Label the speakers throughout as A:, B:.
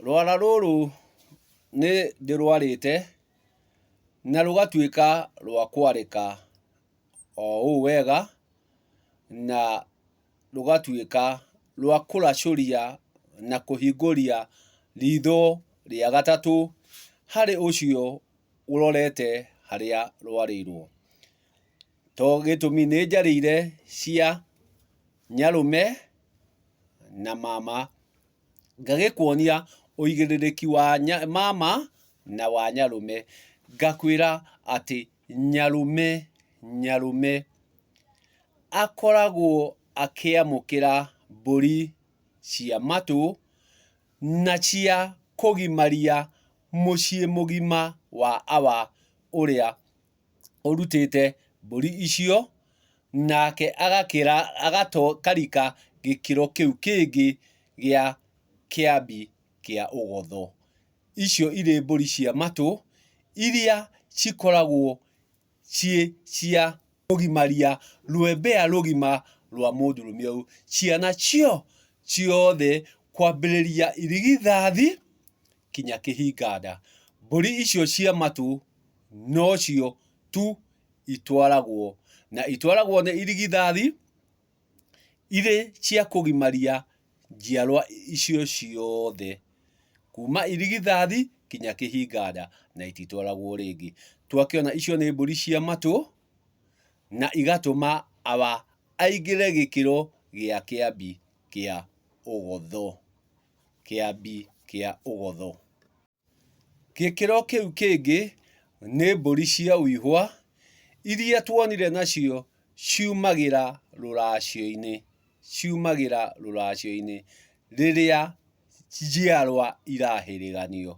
A: Rwara rũrũ nĩ ndĩrwarĩte na rũgatuĩka rwa kwarĩka o ũũ wega na rũgatuĩka rwa kũracũria na kũhingũria ritho rĩa gatatũ harĩ ũcio ũrorete harĩa rwarĩirwo. To gĩtũmi nĩ njarĩire cia nyarũme na mama, ngagĩkuonia ũigĩrĩrĩki wa mama na wa nyarũme, ngakwĩra atĩ nyarũme, nyarũme akoragwo akĩamũkĩra mbũri cia matũ na cia kũgimaria mũciĩ mũgima wa awa ũrĩa. ũrutĩte mbũri icio, nake agakĩra agato karika gĩkĩro kĩu kĩngĩ gĩa kĩambi kĩa ũgotho. Icio irĩ mbũri cia matũ, iria cikoragwo ciĩ cia kũgimaria rũembea rũgima rwa mũndũrũme ũyũ. Ciana cio ciothe kwambĩrĩria irigithathi, kinya kĩhinganda. Mbũri icio cia matũ nocio tu itwaragwo na itwaragwo nĩ irigithathi irĩ cia kũgimaria njiarwa icio ciothe kuma irigithathi kinya kĩhinganda na ititwaragwo rĩngĩ. Twakĩona icio nĩ mbũri cia matũ na igatũma awa aingĩre gĩkĩro gĩa kĩambi kĩa ũgotho. Kĩambi kĩa Ũgotho. Gĩkĩro kĩu kĩngĩ nĩ mbũri cia ũihwa iria tuonire nacio ciumagĩra rũracio-inĩ, ciumagĩra rũracio-inĩ rĩrĩa njiarwa irahĩrĩganio.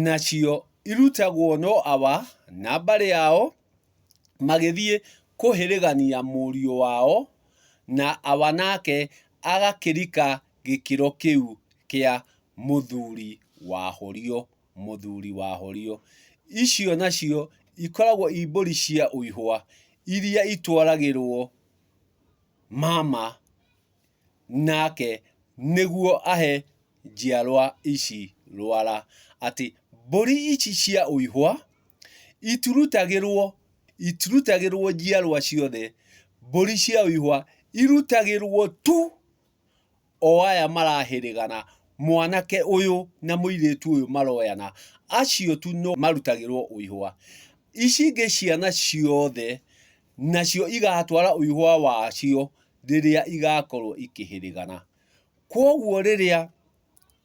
A: Nacio irutagwo no awa na mbarĩ yao magĩthiĩ kũhĩrĩgania mũriũ wao na awa nake agakĩrika gĩkĩro kĩu kĩa mũthuri wahorio, mũthuri wahorio. Icio nacio ikoragwo i mbũri cia ũihũa iria itwaragĩrwo mama nake nĩguo ahe njiarwa ici rwara. Atĩ mbũri ici cia ũihũa itirutagĩrwo, itirutagĩrwo njiarwa ciothe, mbũri cia ũihũa irutagĩrwo tu... o aya marahĩrĩgana, mwanake ũyũ na mũirĩtu ũyũ maroyana, acio tu no marutagĩrwo ũihũa. Ici ingĩ ciana ciothe nacio igatwara ũihũa wacio rĩrĩa igakorwo ikĩhĩrĩgana. Kwoguo rĩrĩa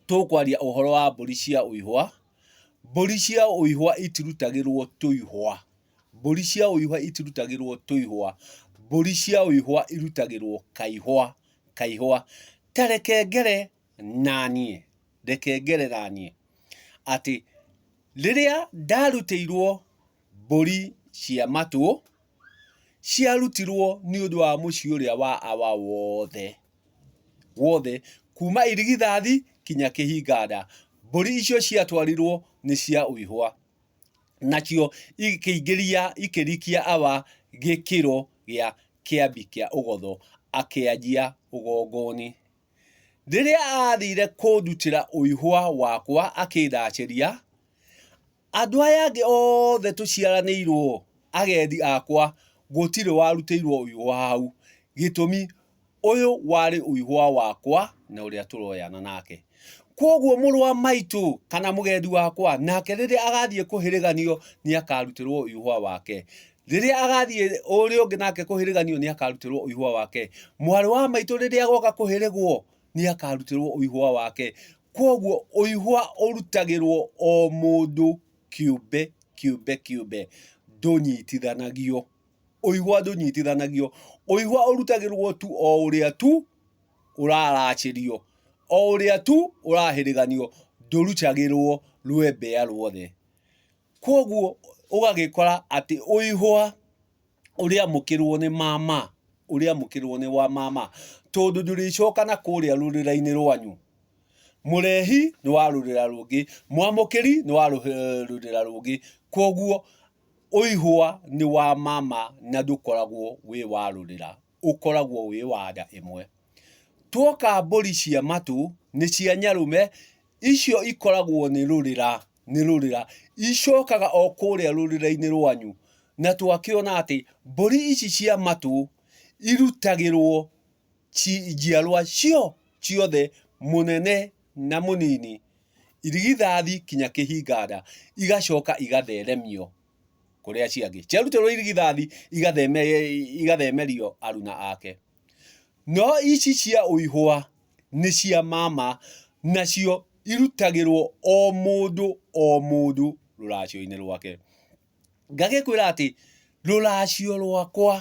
A: tũkwaria ũhoro wa mbũri cia ũihũa, mbũri cia ũihũa itirutagĩrwo tũihũa. Mbũri cia ũihwa itirutagĩrwo tũihwa, mbũri cia ũihwa irutagĩrwo kaihwa, kaihwa. Ta reke ngere na niĩ, reke ngere na niĩ, atĩ rĩrĩa ndarutĩirwo mbũri cia matũ, ciarutirwo nĩ ũndũ wa mũciĩ ũrĩa wa awa wothe, wothe, kuma irigithathi kinya kĩhinga nda. Mbũri icio ciatwarirwo nĩ cia ũihwa. nacio ikĩingĩria ikĩrikia awa gĩkĩro gĩa kĩambi kĩa ũgotho akĩanjia ũgongoni. Rĩrĩa aathire kũndutĩra ũihwa wakwa akĩndacĩria, andũ aya angĩ othe tũciaranĩirwo agendi akwa gũtirĩ warutĩirwo ũihwa hau, gĩtũmi Ũyũ warĩ ũihũa wakwa na ũrĩa tũroyana nake. Kwoguo mũrũ wa maitũ kana mũgendi wakwa nake rĩrĩa agathiĩ kũhĩrĩganio nĩ akarutĩrwo ũihũa wake. Rĩrĩa agathiĩ ũrĩa ũngĩ nake kũhĩrĩganio nĩ akarutĩrwo ũihũa wake. Mwarĩ wa maitũ rĩrĩa agoka kũhĩrĩgwo nĩ akarutĩrwo ũihũa wake. Kwoguo ũihũa ũrutagĩrwo o mũndũ kĩũmbe kĩũmbe kĩũmbe ndũnyitithanagio. ũigwa ndũnyitithanagio ũigwa ũrutagĩrwo tu o ũrĩa tu ũraracĩrio o ũrĩa tu ũrahĩrĩganio ndũrutagĩrwo rwembea ruothe kwoguo ũgagĩkora atĩ ũihwa ũrĩamũkĩrwo nĩ mama ũrĩamũkĩrwo nĩ wa mama tondũ ndũrĩcoka na kũrĩa rũrĩrainĩ rwanyu mũrehi nĩ wa rũrĩra rũngĩ mwamũkĩri nĩ wa rũrĩra rũngĩ kwoguo Ũihwa nĩ wa ma ma na ndũkoragwo wĩ wa rũrĩra, ũkoragwo wĩ wa nda ĩmwe. Tuoka mbũri cia matũ, nĩ cia nyarũme, icio ikoragwo nĩ rũrĩra, nĩ rũrĩra. Icokaga o kũrĩa rũrĩra-inĩ rwanyu. Na twakĩona atĩ, mbũri ici cia matũ, irutagĩrwo njiarwa cio ciothe, mũnene na mũnini, irigithathi kinya kĩhinganda, igacoka igatheremio kũrĩa ciangĩ. Ciaruterwo irigithathi igathemerio aruna ake. No ici cia ũihũa nĩ cia mama, nacio irutagĩrwo o mũndũ o mũndũ rũracio-inĩ rwake. Ngagĩkwĩra atĩ, rũracio rwakwa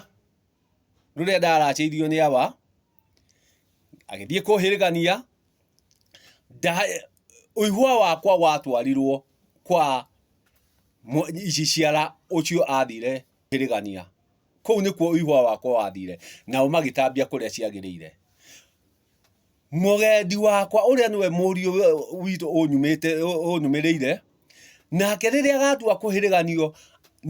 A: rũrĩa ndaracĩirio nĩ awa agĩthiĩ kũhĩrĩgania ũihwa wakwa watwarirwo kwa ici ciara ũcio athire kũhĩrĩgania kũu nĩkuo ũihwa wakwa wathire nao magĩtambia kũrĩa ciagĩrĩire. mũgendi wakwa ũrĩa nĩwe mũriũ witũ ũnyumĩte ũnyumĩrĩire nake rĩrĩa agatua kũhĩrĩganio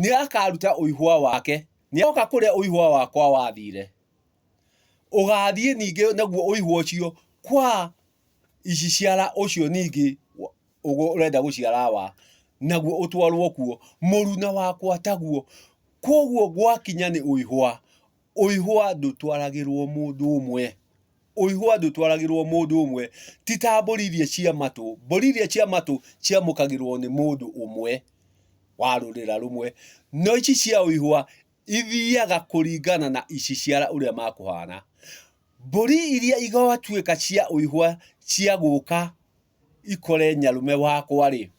A: nĩ akaruta ũihwa wake nĩ oka kũrĩa ũihwa wakwa wathire ũgathiĩ ningĩ naguo ũihwa ũcio kwa ici ciara ũcio ningĩ ũrenda gũciara wa naguo ũtwarwo kuo mũruna wakwa taguo kwoguo gwakinya nĩ ũihwa. Ũihũa ndũtwaragĩrũo mũndũ ũmwe. Ũihũa ndũtwaragĩrũo mũndũ ũmwe. Ti ta mbũri iria cia matũ. Mbũri iria cia matũ ciamũkagĩrũo nĩ mũndũ ũmwe wa rũrĩra rũmwe, no ici cia ũihũa ithiaga kũringana na iciciara ũrĩa makũhana. Mbũri iria igatuĩka cia ũihũa cia gũka ikore nyarume wakwa-rĩ,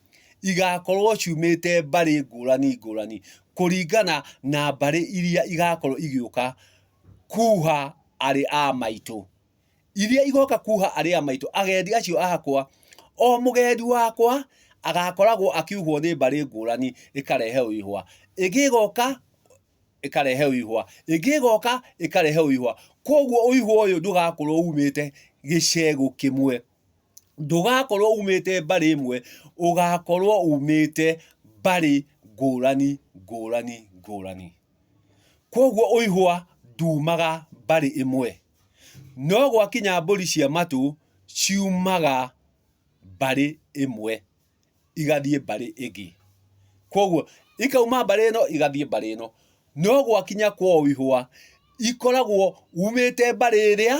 A: igakorwo ciumĩte mbarĩ ngũrani ngũrani, kũringana na mbarĩ iria igakorwo igĩũka kuha arĩ a maitũ. Iria igoka kuha arĩ a maitũ, agendi acio akwa, o mũgendi wakwa agakoragwo akiuhwo nĩ mbarĩ ngũrani ĩkarehe o ihũa. Ĩngĩ ĩgoka ĩkarehe o ihũa, ĩngĩ ĩgoka ĩkarehe o ihũa. Kũoguo o ihũa ũyũ ndũgakorwo umĩte gĩcegũ kĩmwe. ndũgakorwo umĩte mbarĩ ĩmwe, ũgakorwo umĩte mbarĩ ngũrani ngũrani ngũrani. Kũguo ũihũa ndumaga mbarĩ ĩmwe, no gwakinya mbũri cia matũ ciumaga mbarĩ ĩmwe. igathiĩ mbarĩ ĩngĩ. Koguo ikauma mbarĩ ĩno igathiĩ mbarĩ ĩno. No gwakinya kwao ihũa, ikoragwo umĩte mbarĩ ĩrĩa,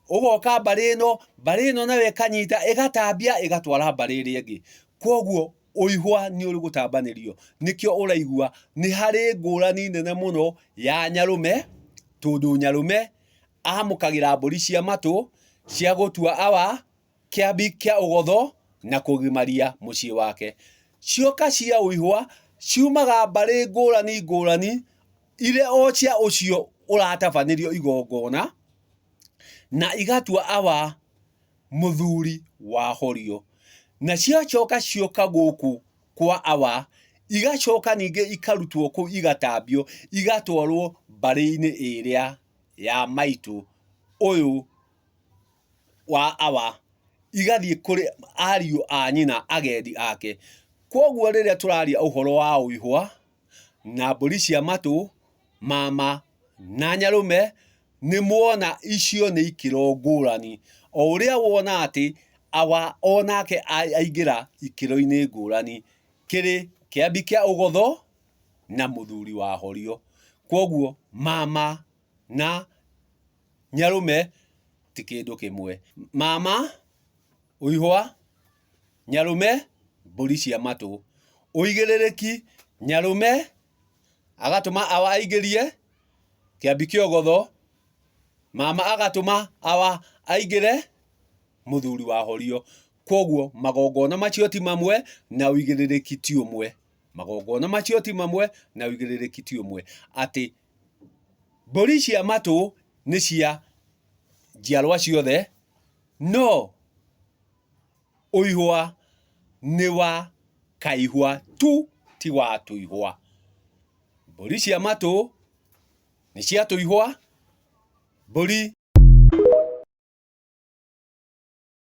A: ũgoka mbarĩ ĩno, mbarĩ ĩno nayo ĩkanyita, ĩgatambia, ĩgatwara mbarĩ ĩrĩa ĩngĩ. Koguo ũihũa nĩ ũrĩ gũtambanĩrio. Nĩkĩo ũraigua nĩ harĩ ngũrani nene mũno ya nyarũme, tondũ nyarũme amũkagĩra mbũri cia matũ, cia gũtua awa, Kĩambi kĩa Ũgotho na kũgimaria mũciĩ wake. Cioka cia ũihwa ciumaga mbarĩ ngũrani ngũrani irĩ o cia ũcio ũratabanĩrio igongona, na igatua awa mũthuri wahorio. Na ciacoka cioka gũkũ kwa awa, igacoka ningĩ ikarutwo kũu igatambio, igatwarwo mbarĩ-inĩ ĩrĩa ya maitũ ũyũ. wa awa igathiĩ kũrĩ ariũ a nyina agendi ake. Kwoguo rĩrĩa tũraria ũhoro wa ũihwa na mbũri cia matũ, mama na nyarũme, nĩ muona icio nĩ ikĩro ngũrani. O ũrĩa wona atĩ awa o nake aingĩra ikĩro-inĩ ngũrani. Kĩrĩ kĩambi kĩa ũgotho na mũthuri wa horio. Kwoguo mama... na nyarũme ti kĩndũ kĩmwe. Mama ũihwa, nyarũme mbũri cia matũ. Ũigĩrĩrĩki, nyarũme agatũma awa aingĩrie kĩambi kĩa ũgotho, mama agatũma awa aingĩre mũthuri wa horio. Kwoguo magongona macio ti mamwe na ũigĩrĩrĩki ti ũmwe. Magongona macio ti mamwe na ũigĩrĩrĩki ti ũmwe. Atĩ Mbũri cia matũ nĩ cia njiarwa ciothe, no ũihũa nĩ wa kaihũa tu ti wa tũihũa. Mbũri cia matũ nĩ cia tũihũa, mbũri.